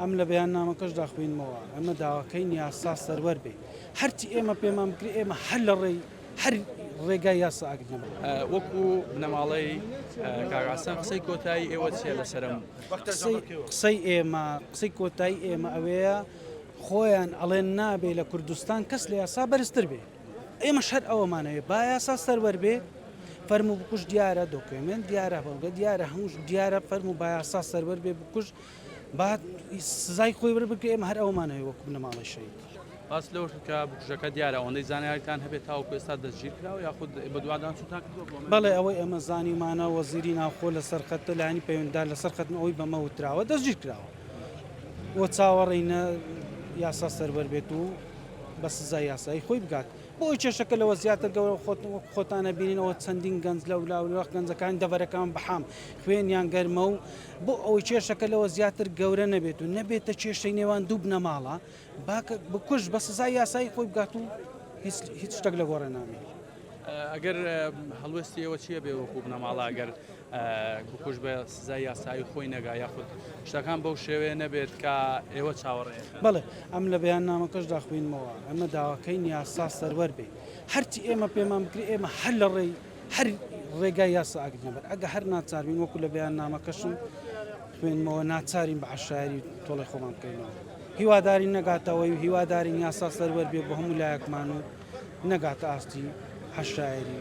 ئەمە لە بەیاننامەکەشدا خوێندمەوە، ئێمە داواکەین یاسا سەروەر بێت، هەرچی ئێمە پێمان بکرێت ئێمە هەر لە ڕێی هەر ڕێگای یاسا ئاگرین. وەکو بنەماڵەی کاک عەسڵان قسەی کۆتایی ئێوە چیە لەسەرم؟ قسەی ئێمە قسەی کۆتایی ئێمە ئەوەیە خۆیان ئەڵێن نابێ لە کوردستان کەس لە یاسا بەرزتر بێ ئێمە شەر ئەوەمانەوێ با یاسا سەروەر بێ فەرمو بکوش دیارە دۆکمنت دیارە بەڵگە دیارە هەمووش دیارە فەرمو با یاسا سەروەر بێ بکوش با سزای خۆی وەربگرێ ئێمە هەر ئەوەمان هەوێ وەکوو بنەماڵەی شەهید. باس لەوەش کرد کە بکوژەکە دیارە ئەوەندەی زانیاریتان هەبێت تاوەکو ئێستا دەستگیرکراوە یاخود بەدواداچوونتان کردووە بۆ ئەمە؟ بەڵێ ئەوەی ئێمە زانیومانە وەزیری ناوخۆ لەسەر خەتە لایەنی پەیوەندیدار لەسەر خەتن ئەوەی بەمە وتراوە دەستگیرکراوە و چاوەڕێینە یاسا سەروەر بێت و بە سزای یاسایی خۆی بگات. بۆی کێشەکە لەوە زیاتر گەورە خۆتن وەک خۆتانە بینین ئەوە چەندین گەنج لەو لاوەخ گەنجەکان دەبەرەکان بەحام خوێنیان گەرمە و بۆ ئەوەی کێشەکە لەوە زیاتر گەورە نەبێت و نەبێتە کێشەی نێوان دوو بنەماڵە باکە بکوژ بە سزای یاسایی خۆی بگات و هیچ شتێک لە گۆڕێ نامێت. ئەگەر هەڵوێستیەوە چیە بێ وەکو بنەماڵە ئەگەر بکوژ بە سزای یاسایی خۆی نەگا یاخود شتەکان بەو شێوەیە نەبێت کە ئێوە چاوەڕێ بڵێ ئەم لە بەیان نامەکەش داخوینمەوە ئەمە داواکەین یاسا سەروەر بێ هەرچی ئێمە پێمان بکرێ ئێمە هەر لە ڕێی هەر ڕێگای یاسا ئەگرنەبەر ئەگە هەر ناچاربین وەکو لە بەیان نامەکەشم خوێنمەوە ناچارین بە عشاری تۆڵی خۆمان بکەینەوە هیواداری نەگاتەوەی هیوادارین یاسا سەروەر بێ بە هەموو لایەکمان و نەگاتە ئاستی عشاعری